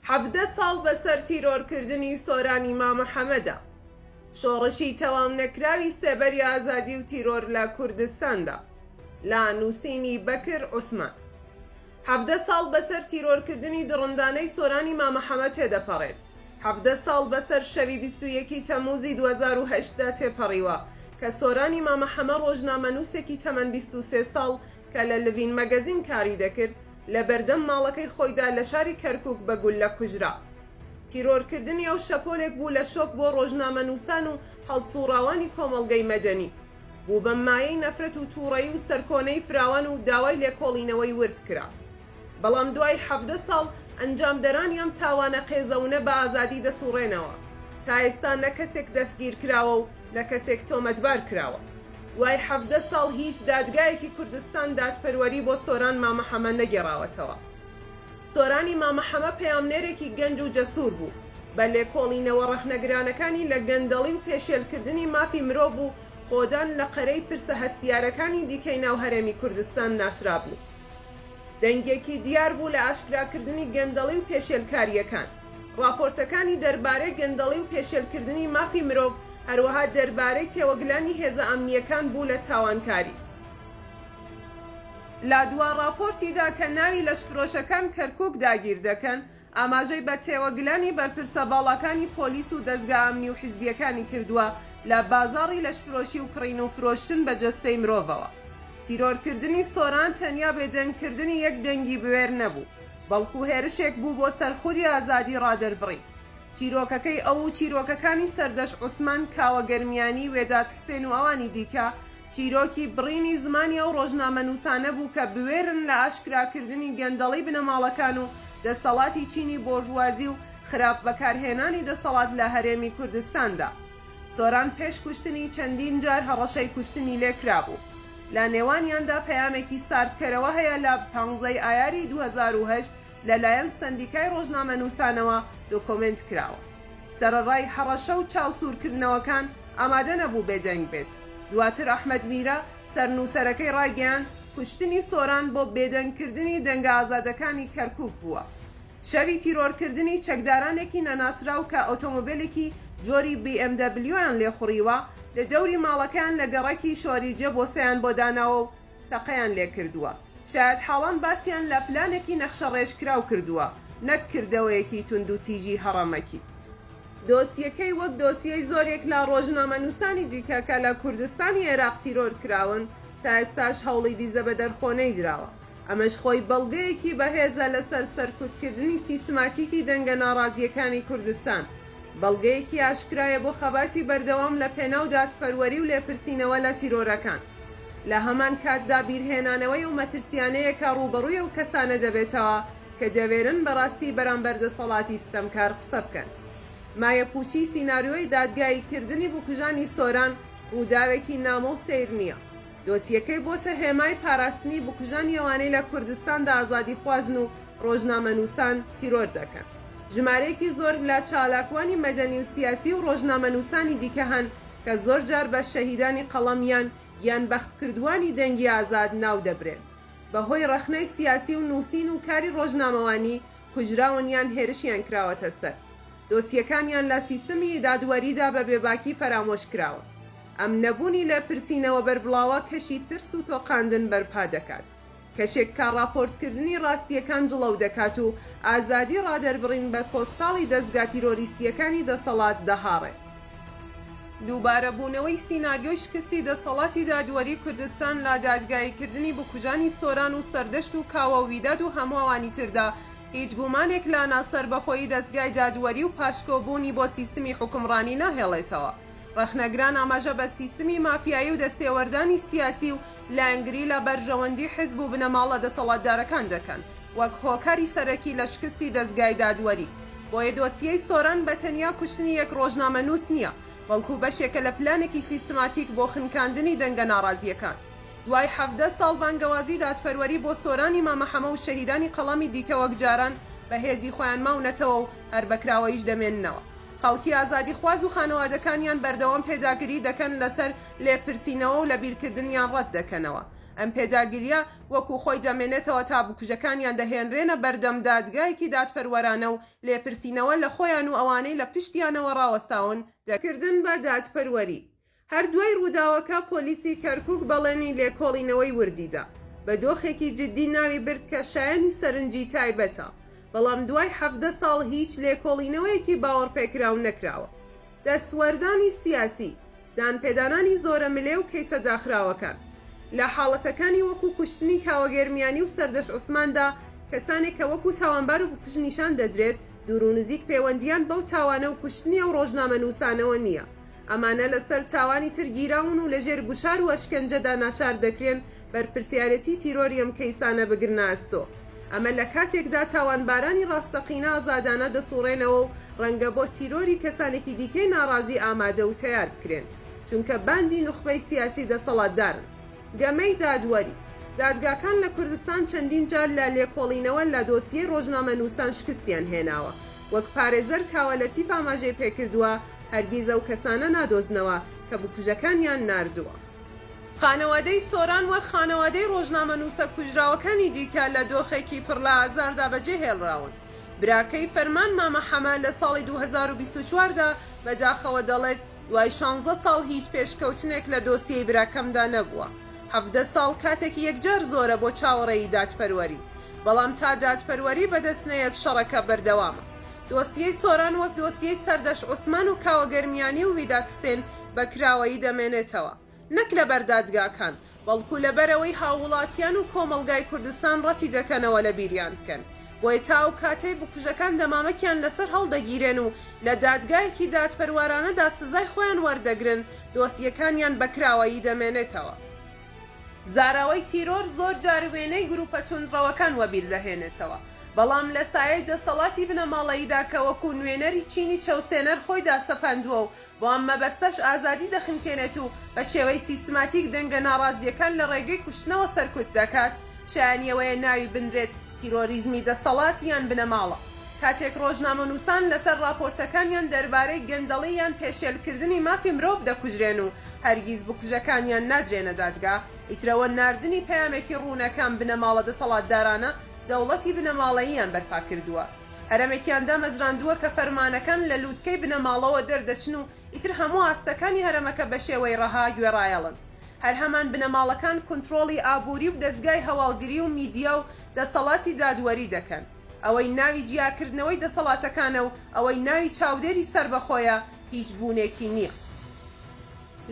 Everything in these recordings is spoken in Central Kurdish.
حەڤدە ساڵ بەسەر تیرۆرکردنی سۆرانی مامە حەمەدا. شۆڕشی تەواو نەکراوی سێبەری ئازادی و تیرۆر لە کوردستاندا. لە نووسینی بەکر عوسمان. حەڤدە ساڵ بەسەر تیرۆرکردنی دڕندانەی سۆرانی مامە حەمە تێدەپەڕێت. حەڤدە ساڵ بەسەر شەوی بیست و یەکی تەمووزی دوو هەزار و هەشت دا تێپەڕیوە کە سۆرانی مامە حەمە ڕۆژنامەنووسێکی تەمەن بیست و سێ ساڵ کە لە لڤین مەگەزین کاری دەکرد، لە بەردەم ماڵەکەی خۆیدا لە شاری کەرکووک بە گوللە کوژرا. تیرۆرکردنی ئەو شەپۆلێک بوو لە شۆک بۆ ڕۆژنامەنووسان و هەڵسووڕاوانی کۆمەڵگەی مەدەنی. بوو بە مایەی نەفرەت و تووڕەیی و سەرکۆنەی فراوان و داوای لێکۆڵینەوەی ورد کرا. بەڵام دوای حەڤدە ساڵ، ئەنجامدەرانی ئەم تاوانە قێزەونە بە ئازادی دەسووڕێنەوە. تا ئێستا نە کەسێک دەستگیرکراوە و لە کەسێک تۆمەتبار کراوە. دوای حەڤدە ساڵ هیچ دادگایەکی کوردستان دادپەروەری بۆ سۆران مامە حەمە نەگێڕاوەتەوە. سۆرانی مامە حەمە پەیامنێرێکی گەنج و جەسوور بوو، بە لێکۆڵینەوە ڕەخنەگرانەکانی لە گەندەڵی و پێشێلکردنی مافی مرۆڤ و خۆدان لە قەرەی پرسە هەستیارەکانی دیکەی ناو هەرێمی کوردستان ناسرابوو. دەنگێکی دیار بوو لە ئاشکراکردنی گەندەڵی و پێشێلکارییەکان. ڕاپۆرتەکانی دەربارەی گەندەڵی و پێشێلکردنی مافی مرۆڤ، هەروەها دەربارەی تێوەگلانی هێزە ئەمنییەکان بوو لە تاوانکاری. لە دوا ڕاپۆرتیدا کە ناوی لەشفرۆشەکان کەرکووک داگیر دەکەن، ئاماژەی بە تێوەگلانی بەرپرسە باڵاکانی پۆلیس و دەزگا ئەمنی و حیزبییەکانی کردووە لە بازاڕی لەشفرۆشی و کڕین و فرۆشتن بە جەستەی مرۆڤەوە. تیرۆرکردنی سۆران تەنیا بێدەنگکردنی یەک دەنگی بوێر نەبوو. بەڵکو هێرشێک بوو بۆ سەر خودی ئازادی ڕادەربڕی. چیرۆکەکەی ئەو و چیرۆکەکانی سەردەشت عوسمان کاوە گەرمیانی، وێداد حسێن و ئەوانی دیکە، چیرۆکی بڕینی زمانی ئەو ڕۆژنامەنووسانە بوو کە بوێرن لە ئاشکراکردنی گەندەڵی بنەماڵەکان و دەسەڵاتی چینی بۆرژوازی و خراپ بەکارهێنانی دەسەڵات لە هەرێمی کوردستاندا. سۆران پێش کوشتنی چەندین جار هەڕەشەی کوشتنی لێ کرابوو، لە نێوانیاندا پەیامێکی ساردکەرەوە هەیە لە پانزە ی ئایاری دوو هەزار و هەشت لە لایەن سەندیکای ڕۆژنامەنووسانەوە دۆکۆمێنت کراوە. سەرەڕای هەڕەشە و چاو سوورکردنەوەکان ئامادە نەبوو بێدەنگ بێت. دواتر ئەحمەد میرە سەرنووسەرەکەی ڕایگەیاند، کوشتنی سۆران بۆ بێدەنگکردنی دەنگە ئازادەکانی کەرکووک بووە. شەری تیرۆرکردنی چەکدارانێکی نەناسراو کە ئۆتۆمۆبێلێکی جۆری بی ئێم دەبلیۆیان لێخوڕیوە، لە دەوری ماڵەکەیان لە گەڕەکی شۆریجە بۆسەیان بۆ داناوە و تەقەیان لێکردووە. شایەتحاڵان باسیان لە پلانێکی نەخشەڕێژکراو کردووە، نەک کردەوەیەکی توندوتیژی هەڕەمەکی. دۆسیەکەی وەک دۆسیەی زۆرێک لە ڕۆژنامەنووسانی دیکە کە لە کوردستانی عێراق تیرۆرکراون، تا ئێستاش هەوڵی دیزە بەدەرخۆ نەیدراوە. ئەمەش خۆی بەڵگەیەکی بەهێزە لەسەر سەرکوتکردنی سیستماتیکی دەنگە ناڕازییەکانی کوردستان، بەڵگەیەکی ئاشکرایە بۆ خەباتی بەردەوام لە پێناو دادپەروەری و لێپرسینەوە لە تیرۆرەکان. لە هەمان کاتدا بیرهێنانەوەی ئەو مەترسییانەیە کە ڕووبەڕووی ئەو کەسانە دەبێتەوە کە دەوێرن بە ڕاستی بەرامبەر دەسەڵاتی ستەمکار قسە بکەن. مایەپووچی سیناریۆی دادگایی کردنی بکوژانی سۆران ڕووداوێکی نامۆ و سەیر نییە. دۆسیەکەی بۆتە هێمای پاراستنی بکوژان یەوانەی لە کوردستاندا ئازادیخوازن و ڕۆژنامەنووسان تیرۆر دەکەن. ژمارەیەکی زۆر لە چالاکوانی مەدەنی و سیاسی و ڕۆژنامەنووسانی دیکە هەن کە زۆر جار بە شەهیدانی قەڵەم یان گیانبەختکردوانی دەنگی ئازاد ناو دەبرێن بە هۆی ڕەخنەی سیاسی و نووسین و کاری ڕۆژنامەوانی کوژراون یان هێرشیان کراوەتە سەر. دۆسیەکانیان لە سیستمی دادوەریدا بە بێباکی فەرامۆش کراوە. ئەم نەبوونی لە پرسینەوە بەربڵاوە کەشی ترس و تۆقاندن بەرپا دەکات. کەشێک کە ڕاپۆرتکردنی ڕاستییەکان جڵەو دەکات و ئازادی ڕادەربڕین بە پۆستاڵی دەزگا تیرۆریستییەکانی دەسەڵات دەهاڕێت. دووبارەبوونەوەی سیناریۆی شکستی دەسەڵاتی دادوەری کوردستان لە دادگاییکردنی بکوژانی سۆران و سەردەشت و کاوە و ویداد و هەموو ئەوانی تردا، هیچ گومانێک لانا سەربەخۆیی دەزگای دادوەری و پاشکۆ بوونی بۆ سیستمی حوکمڕانی ناهێڵێتەوە. ڕەخنەگران ئاماژە بە سیستمی مافیایی و دەستێوەردانی سیاسی و لایەنگری لە بەرژەوەندی حزب و بنەماڵە دەسەڵاتدارەکان دەکەن وەک هۆکاری سەرەکی لە شکستی دەزگای دادوەری. بۆیە دۆسیەی سۆران بە تەنیا کوشتنی یەک ڕۆژنامەنووس نییە، بەڵکو بەشێکە لە پلانێکی سیستماتیک بۆ خنکاندنی دەنگە ناڕازییەکان. دوای حەڤدە ساڵ بانگەوازی دادپەروەری بۆ سۆرانی مامە حەمە و شەهیدانی قەڵامی دیکە وەک جاران بە هێزی خۆیان ماونەتەوە و هەر بە کراوەییش دەمێننەوە. خەڵکی ئازادیخواز و خانەوادەکانیان بەردەوام پێداگری دەکەن لەسەر لێپرسینەوە و لەبیرکردنیان ڕەت دەکەنەوە. ئەم پێداگرییە وەکوو خۆی دەمێنێتەوە تا بکوژەکانیان دەهێنرێنە بەردەم دادگایەکی دادپەروەرانە و لێپرسینەوە لە خۆیان و ئەوانەی لە پشتیانەوە ڕاوەستاون دەکرێت. کردن بە دادپەروەری هەر دوای ڕووداوەکە پۆلیسی کەرکووک بەڵێنی لێکۆڵینەوەی وردی دا، بە دۆخێکی جددی ناوی برد کە شایەنی سەرنجی تایبەتە، بەڵام دوای حەڤدە ساڵ هیچ لێکۆڵینەوەیەکی باوەڕپێکراو نەکراوە. دەستوەردانی سیاسی، دانپێدانانی زۆرەملێ و کەیسە داخراوەکان. لە حاڵەتەکانی وەکوو کوشتنی کاوە گەرمیانی و سەردەشت عوسماندا کەسانێک کە وەکوو تاوانبار و بکوژ نیشان دەدرێت دوور و نزیک پێوەندییان بەو تاوانە و کوشتنی ئەو ڕۆژنامەنووسانەوە نییە، ئەمانە لە سەر چاوانی تر گیراون و لە ژێر گوشار و ئەشکەنجەدا ناچار دەکرێن بەرپرسیارێتی تیرۆری ئەم کەیسانە بگرنە ئەستۆ. ئەمە لە کاتێکدا تاوانبارانی ڕاستەقینە ئازادانە دەسوڕێنەوە و ڕەنگە بۆ تیرۆری کەسانێکی دیکەی ناڕازی ئامادە و تەیار بکرێن، چونکە باندی نوخبەی سیاسی دەسەڵاتدارن. گەمەی دادوەری. دادگاکان لە کوردستان چەندین جار لە لێکۆڵینەوە لە دۆسیەی ڕۆژنامەنووسان شکستیان هێناوە. وەک پارێزەر کاوە لەتیف ئاماژەی پێکردووە، هەرگیز ئەو کەسانە نادۆزنەوە کە بکوژەکانیان ناردووە. خانەوادەی سۆران وەک خانەوادەی ڕۆژنامەنووسە کوژراوەکانی دیکە لە دۆخێکی پڕ لە ئازاردا بەجێهێڵراون. براکەی فەرمان مامە حەمە لە ساڵی دوو هەزار و بیست و چوار دا بە داخەوە دەڵێت، دوای شانزە ساڵ هیچ پێشکەوتنێک لە دۆسیەی براکەمدا نەبووە. حەڤدە ساڵ کاتێکی یەکجار زۆرە بۆ چاوەڕێی دادپەروەری. بەڵام تا دادپەروەری بەدەست نەیەت شەڕەکە بەردەوامە. دۆسیەی سۆران وەک دۆسیەی سەردەشت عوسمان و کاوە گەرمیانی و ویداد حسێن بە کراوەیی دەمێنێتەوە نەک لەبەر دادگاکان بەڵکو لەبەرئەوەی هاووڵاتیان و کۆمەڵگای کوردستان ڕەتی دەکەنەوە لە بیریان بکەن بۆیە تا ئەو کاتەی بکوژەکان دەمامکیان لەسەر هەڵدەگیرێن و لە دادگایەکی دادپەروارانەدا سزای خۆیان وەردەگرن دۆسیەکانیان بە کراوەیی دەمێنێتەوە. زاراوەی تیرۆر زۆر جار وێنەی گروپە توندڕەوەکان وەبیر دەهێنێتەوە بەڵام لە سایەی دەسەڵاتی بنەماڵەییدا کە وەکوو نوێنەری چینی چەوسێنەر خۆی داسەپاندووە و بۆ ئەم مەبەستەش ئازادی دەخنکێنێت و بە شێوەی سیستماتیک دەنگە ناڕازییەکان لە ڕێگەی کوشتنەوە سەرکوت دەکات، شایانی ئەوەیە ناوی بنرێت تیرۆریزمی دەسەڵات یان بنەماڵە. کاتێک ڕۆژنامەنووسان لەسەر ڕاپۆرتەکانیان دەربارەی گەندەڵی یان پێشێلکردنی مافی مرۆڤ دەکوژرێن و هەرگیز بکوژەکانیان نادرێنە دادگا، ئیترەوە ناردنی پەیامێکی ڕوونە کام بنەماڵە دەسەڵاتدارانە دەوڵەتی بنەماڵەییان بەرپا کردووە. هەرەمێکیان دامەزراندووە کە فەرمانەکان لە لووتکەی بنەماڵەوە دەردەچن و ئیتر هەموو ئاستەکانی هەرەمەکە بە شێوەی ڕەها گوێڕایەڵن. هەر هەمان بنەماڵەکان کونتڕۆڵی ئابووری و دەزگای هەواڵگری و میدیا و دەسەڵاتی دادوەری دەکەن. ئەوەی ناوی جیاکردنەوەی دەسەڵاتەکانە و ئەوەی ناوی چاودێری سەربەخۆیە، هیچ بوونێکی نییە.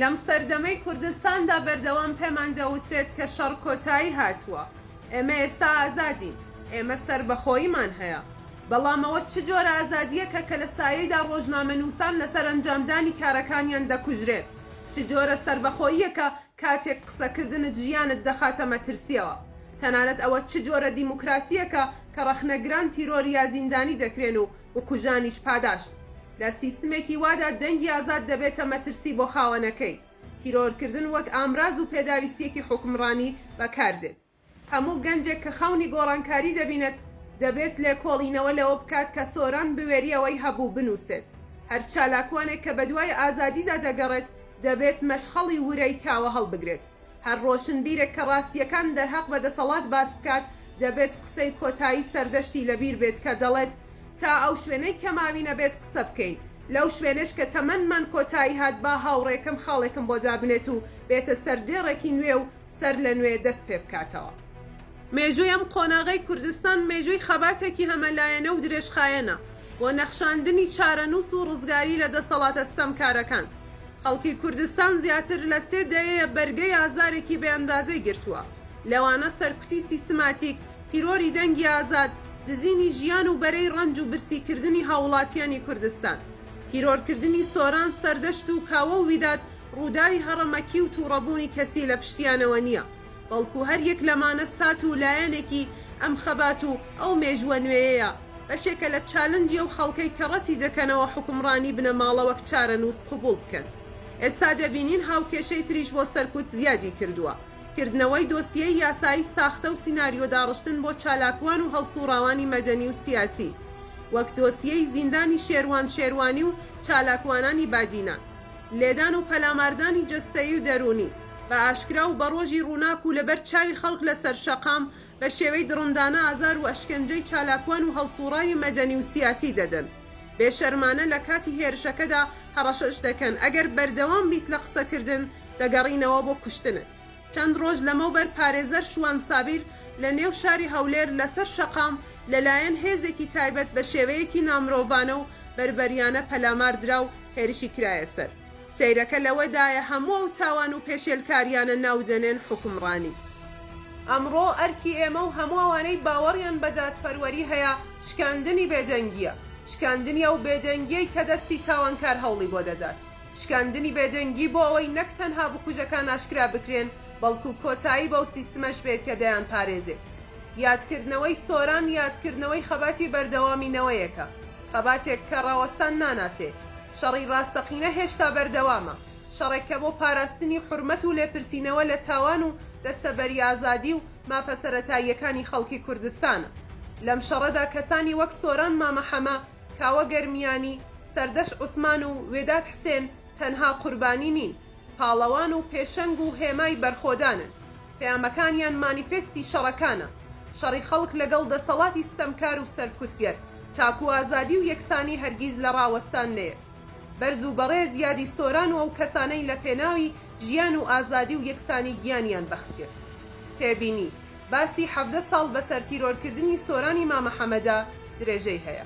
لەم سەردەمەی کوردستاندا بەردەوام پێمان دەوترێت کە شەڕ کۆتایی هاتووە، ئێمە ئێستا ئازادین، ئێمە سەربەخۆییمان هەیە، بەڵام ئەوە چ جۆرە ئازادییەکە کە لە سایەیدا ڕۆژنامەنووسان لەسەر ئەنجامدانی کارەکانیان دەکوژرێن؟ چ جۆرە سەربەخۆییەکە کاتێک قسەکردنت ژیانت دەخاتە مەترسییەوە؟ تەنانەت ئەوە چ جۆرە دیموکراسییەکە کە ڕەخنەگران تیرۆر یا زیندانی دەکرێن و بکوژانیش پاداشت لە سیستمێکی وادا دەنگی ئازاد دەبێتە مەترسی بۆ خاوەنەکەی، تیرۆرکردن وەک ئامراز و پێداویستیەکی حوکمڕانی بەکاردێت. هەموو گەنجێک کە خەونی گۆڕانکاری دەبینێت دەبێت لێکۆڵینەوە لەوە بکات کە سۆران بوێری ئەوەی هەبوو بنووسێت. هەر چالاکوانێک کە بەدوای ئازادیدا دەگەڕێت دەبێت مەشخەڵی ورەی کاوە هەڵبگرێت. هەر ڕۆشنبیرێک کە ڕاستییەکان دەرهەق بە دەسەڵات باس بکات، دەبێت قسەی کۆتایی سەردەشتی لەبیر بێت کە دەڵێت، تا ئەو شوێنەی کە ماوینە بێت قسە بکەین. لەو شوێنەش کە تەمەنمان کۆتایی هات، با هاوڕێکەم خاڵێکم بۆ دابنێت و بێتە سەر دێڕێکی نوێ و سەرلەنوێ دەست پێ بکاتەوە. مێژووی ئەم قۆناغەی کوردستان مێژووی خەباتێکی هەمەلایەنە و درێژخایەنە بۆ نەخشاندنی چارەنووس و ڕزگاری لە دەسەڵاتە ستەمکارەکان. خەڵکی کوردستان زیاتر لە سێ دەیەیە بەرگەی ئازارێکی بێ ئەندازەی گرتووە، لەوانە سەرکوتی سیستماتیک، تیرۆری دەنگی ئازاد، دزینی ژیان و بەرەی ڕەنج و برسیکردنی هاووڵاتیانی کوردستان. تیرۆرکردنی سۆران سەردەشت و کاوە و ویداد ڕووداوی هەڕەمەکی و تووڕەبوونی کەسی لە پشتیانەوە نییە. بەڵکو هەر یەک لەمانە سات و لایەنێکی ئەم خەبات و ئەو مێژووە نوێیەیە، بەشێکە لە چالنجی ئەو خەڵکەی کە ڕەتی دەکەنەوە حوکمڕانی بنەماڵە وەک چارەنووس قبوڵ بکەن. ئێستا دەبینین هاوکێشەی تریش بۆ سەرکوت زیادی کردووە. کردنەوەی دۆسیەی یاسایی ساختە و سیناریۆ داڕشتن بۆ چالاکوان و هەڵسوڕاوانی مەدەنی و سیاسی، وەک دۆسیەی زیندانی شێروان شێروانی و چالاکوانانی بادینان. لێدان و پەلاماردانی جەستەیی و دەروونی. بە ئاشکرا و بە ڕۆژی ڕووناک و لەبەر چاوی خەڵک لە سەر شەقام، بە شێوەی دڕندانە ئازار و ئەشکەنجەی چالاکوان و هەڵسووڕاوی مەدەنی و سیاسی دەدەن. بێ شەرمانە لە کاتی هێرشەکەدا هەڕەشەش دەکەن، ئەگەر بەردەوام بیت لە قسەکردن، دەگەڕینەوە بۆ کوشتنت. چەند ڕۆژ لەمەوبەر پارێزەر شوان سابیر لە نێو شاری هەولێر لە سەر شەقام لە لایەن هێزێکی تایبەت بە شێوەیەکی نامرۆڤانە و بەربەریانە پەلامار درا و هێرشی کرایە سەر. سەیرەکە لەوەدایە هەموو ئەو تاوان و پێشێلکاریانە ناودەنێن حوکمڕانی. ئەمڕۆ ئەرکی ئێمە و هەموو ئەوانەی باوەڕیان بە دادپەروەری هەیە شکاندنی بێدەنگییە، شکاندنی ئەو بێدەنگیەی کە دەستی تاوانکار هەوڵی بۆ دەدات، شکاندنی بێدەنگی بۆ ئەوەی نەک تەنها بکوژەکان ئاشکرا بکرێن بەڵکو کۆتایی بەو سیستمەش بێت کە دەیانپارێزێت. یادکردنەوەی سۆران یادکردنەوەی خەباتی بەردەوامی نەوەیەکە. خەباتێک کە ڕاوەستان ناناسێ، شەڕی ڕاستەقینە هێشتا بەردەوامە، شەڕێک کە بۆ پاراستنی حورمەت و لێپرسینەوە لە تاوان و دەستەبەری ئازادی و مافە سەرەتاییەکانی خەڵکی کوردستانە. لەم شەڕەدا کەسانی وەک سۆران مامە حەمە، کاوە گەرمیانی، سەردەش عوسمان و وێداد حسێن تەنها قوربانی نین، پاڵەوان و پێشەنگ و هێمای بەرخۆدانن. پەیامەکانیان مانیفێستی شەڕەکانە، شەڕی خەڵک لەگەڵ دەسەڵاتی ستەمکار و سەرکوتگەر، تاکو ئازادی و یەکسانی هەرگیز لە ڕاوەستان نەیەت. بەرز و بەڕێز یادی سۆران و ئەو کەسانەی لە پێناوی ژیان و ئازادی و یەکسانی گیانیان بەخت کرد. تێبینی، باسی حەڤدە ساڵ بەسەر تیرۆرکردنی سۆرانی مامە حەمەدا درێژەی هەیە.